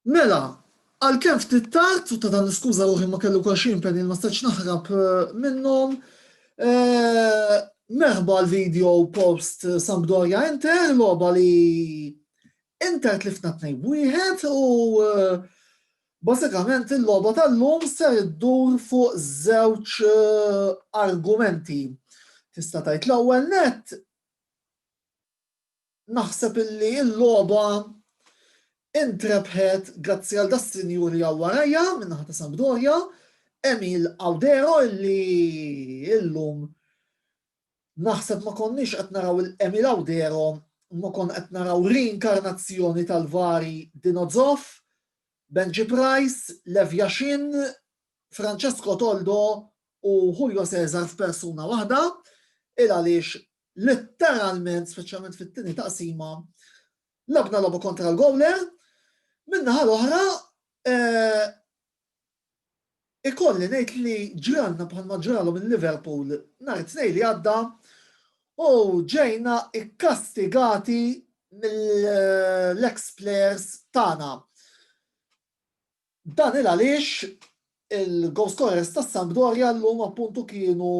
Mela, għalkemm ftit tard, u ta' dan niskuża ruħi ma kelli wkoll xi impenn li ma stajtx naħrab minnhom, merħba l-video post Sampdoria Inter, logħba li Inter tlifna tnejn wieħed u Basikament il-logħba tal-lum ser iddur fuq żewġ eh, argumenti. Tista' tgħid l-ewwel net Naħseb illi l-logħba intrebħet grazzi għal das-sinjur li hawn warajja min-naħa ta' Sampdoria, Emil Audero illi illum naħseb ma konniex qed naraw il-Emil Audero imma konna qed naraw reinkarnazzjoni tal-vari Dino Zoff, Benji Price, Lev Yashin, Francesco Toldo u Julio Cesar f'persuna waħda il għaliex Letteralment, speċjalment fit-tieni taqsima, labna lobu kontra l-gowler, minna ħal oħra eh, ikolli ngħid li ġranna bħalma ġralu minn Liverpool nhar it-tnej li għadda u ġejna ikkastigati mill-ex players tagħna. Dan hi għaliex il-goal scorers tas-Sampdoria llum appuntu kienu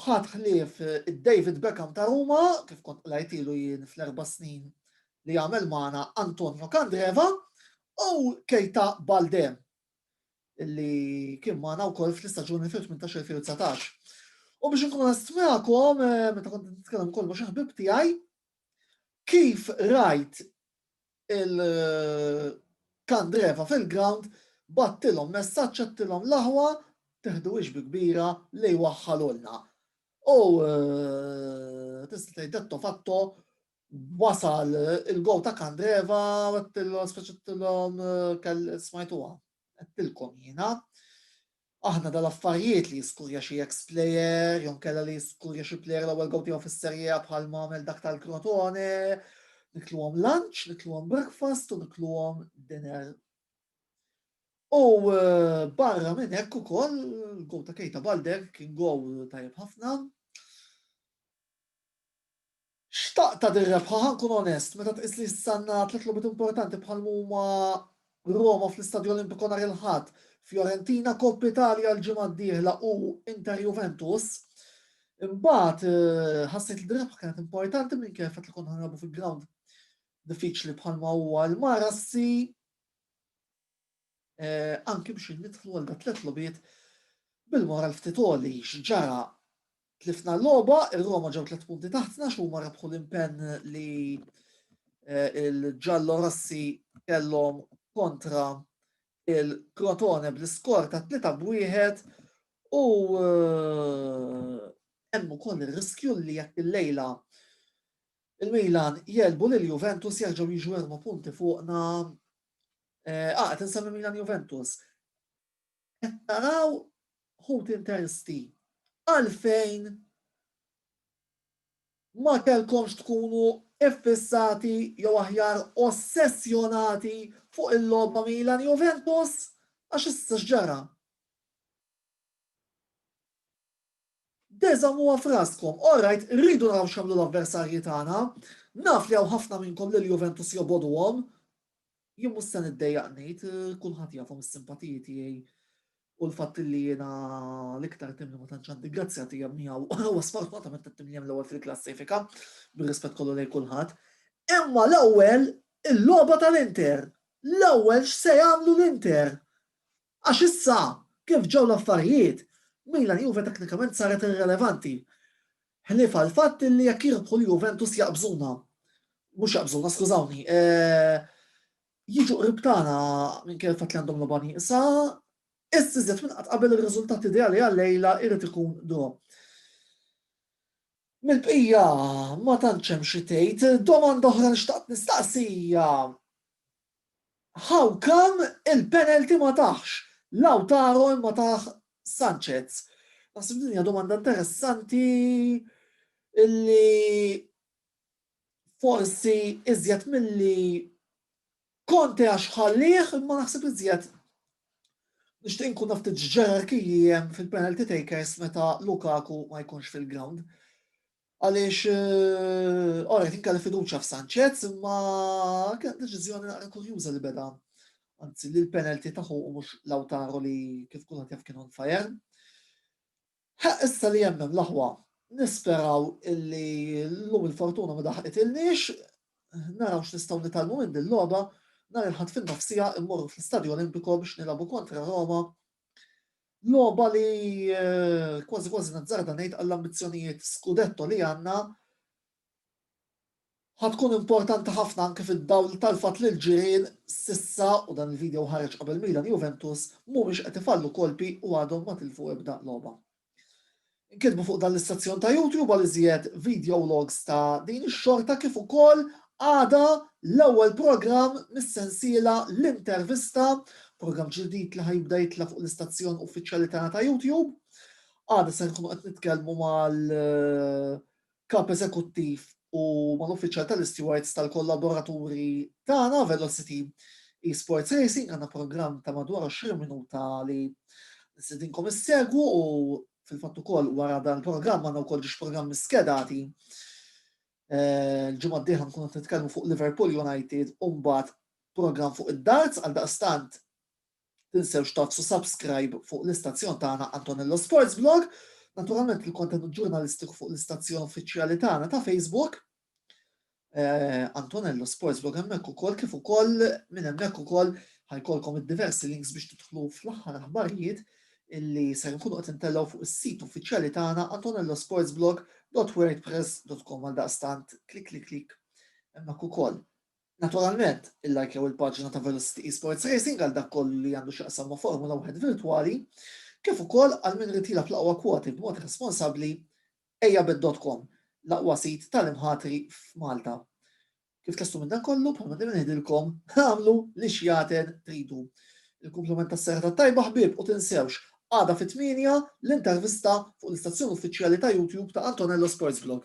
ħadd ħlief id-David Beckham ta' Ruma, kif kont qlajtilu jien fl-erba' snin li għamel magħna Antonio Candreva, u Keita Balde li kien magħna wkoll fl-istaġun 2018-2019. U biex inkun onest magħkom, meta kont nitkellem ukoll ma' xi ħbieb tiegħi, kif rajt il-kandreva fil-ground bagħtilhom messaġġ għedtilhom l-aħwa teħduhiex bi kbira li jwaħħalulna. U tista' tgħid detto fatto wasal il-gow ta' Kandreva għedtilhom speċettilhom smajtuha għedtilkom jiena Aħna dal-affarijiet, li jiskurja xi eks plejer jew inkella li jiskurja xi plejer l-ewwel gowl tiegħu fis-Serie A bħal ma għamel dak tal-Crotone, nikluhom lunch, nikluhom breakfast u nikluhom dinner. U barra minn hekk ukoll gowl ta' Keita Balde kien gowl tajjeb ħafna. Xtaqt għad irrebħa, ħa nkun onest, meta tqis li jista'na tliet logħbiet importanti bħal m'huma Roma fl-Istadio Olimpico nhar il-Ħadd, Fiorentina, Coppa Italia l-ġimgħa d-dieħla u Inter Juventus. Imbagħad ħassejt li dir-rebħa kienet importanti minkejja l-fatt li konna ħanilagħbu fi ground diffiċli bħalma huwa l-Marassi. Anki biex nidħlu għal dak tliet logħbiet bil-moral ftit għoli, x'ġara? Tlifna l-logħba, ir-Roma ġew tliet punti taħtna x'huma rebħu l-impenn li l-Ġallo Rossi kellhom kontra il-Crotone bl-iskor ta' 3 b'wieħed u hemm ukoll ir-riskju li jekk il-lejla il-Milan jelbu lil Juventus jerġgħu jiġu erba' punti fuqna Eh, ah, qed insemmi Milan Juventus. Qed naraw ħut intersti għalfejn ma kellkomx tkunu iffissati jew aħjar ossessjonati fuq il-logħba Milan Juventus għax issa x'ġara. De żommuha f'raskom, alright irridu naraw x'għamlu l-avversarji tagħna, naf li hawn ħafna minnkom lil Juventus jobogħduhom, jien mhux se niddejjaq ngħid, kulħadd jafhom is-simpatiji tiegħi u l-fatt li jiena l-iktar tim li ma tantx għandi grazzja tiegħi miegħu huwa sfortunatament it-tim li hemm l-ewwel fil-klassifika, bir-rispett kollu lejn kulħadd. Imma l-ewwel il-logħba tal-Inter, l-ewwel x'se jagħmlu l-Inter? Għax issa, kif ġew l-affarijiet, Milan-Juve teknikament saret irrelevanti. Ħlief għall-fatt li jekk jirbħu l-Juventus jaqbżuna. Mhux jaqbżuna, skużawni. Jiġu qrib tagħna minkejja l-fatt li għandhom logħba nieqsa. Issa iżjed minn qatt qabel ir-riżultat ideali għal-lejla jrid ikun draw. Mill-bqija ma tantx hemm xi tgħid. Domanda oħra li xtaqt nistaqsi hija How come il-penalty ma tahx Lautaro imma tah Sanchez? Naħseb din hija domanda interessanti illi forsi iżjed milli Conte għax ħallieh imma naħseb iżjed nixtieq nkun naf ftit x'ġerarkiji hemm fil-penalty takers meta Lukaku ma jkunx fil-ground. Għaliex alright jien kelli fiduċja f'Sanchez imma kienet deċiżjoni naqra kurjuża li beda anzi li l-penalty taħu u mhux Lautaro li kif kulħadd jaf kien on fire. Ħa issa li jemmem l-aħwa nisperaw illi l-lum il-fortuna ma daħqitilniex, naraw x'nistgħu nitalmu minn din logħba nhar il-ħadd fin-nofsija immorru fl-Istadju Olimpiko biex nilagħbu kontra Roma Logħba li kważi kważi nazzarda ngħid għall-ambizzjonijiet Scudetto li għandna ħatkun importanti ħafna anke fid-dawl tal-fatt li l-ġirien sissa u dan il-video ħareġ qabel Milan Juventus mhumiex qed ifallu kolpi u għadhom ma tilfu ebda logħba. Inkitbu fuq dan l-istazzjon ta' YouTube għal iżjed videologs ta' din ix-xorta kif ukoll għada l-ewwel programm mis-sensiela L-Intervista, programm ġdid li ħa jibda jitla' fuq l-istazzjon uffiċjali tagħna ta' YouTube. Għada se nkunu qed nitkellmu mal Kap Eżekuttiv u mal-Uffiċjal tal-Istewards tal-kollaboraturi tagħna, Velocity Esports Racing, għandna programm ta' madwar 20 minuta li nistedinkom issegwu u fil-fatt ukoll wara dan il-programm għandna wkoll ġiex programmi skedati. Il-ġimgħa d-dieħla nkunu qed nitkellmu fuq Liverpool United u mbagħad programm fuq id-darts għal daqstant Tinsewx tagħfsu subscribe fuq l-istazzjon tagħna Antonello Sports Blog, naturalment il-kontenut ġurnalistiku fuq l-istazzjon uffiċjali tagħna ta' Facebook. Eh, Antonello Sports Blog hemmhekk ukoll kif ukoll minn hemmhekk ukoll ħajkolkom id-diversi links biex tidħlu fl-aħħar aħbarijiet illi ser nkunu qed intellgħu fuq is-sit uffiċjali tagħna antonellosportsblog.wordpress.com għal daqstant klik klik klik hemmhekk ukoll. Naturalment, illajkjaw il-paġna ta' Velocity Esports Racing għal dak kollu li għandu x'jaqsam ma' Formula Wieħed virtwali, kif ukoll għal min irid jilgħab l-aqwa kwoti b'mod responsabbli, ejjabet.com, l-aqwa sit tal-imħatri f'Malta. Kif tlestu minn dan kollu, bħalma dejjem ngħidilkom, agħmlu l-ixjaten tridu. Il-kumpliment tas-serata t-tajba ħbieb u tinsewx, għada fit-tmienja, l-intervista fuq l-istazzjon uffiċjali ta' YouTube ta' Antonello Sports Blog.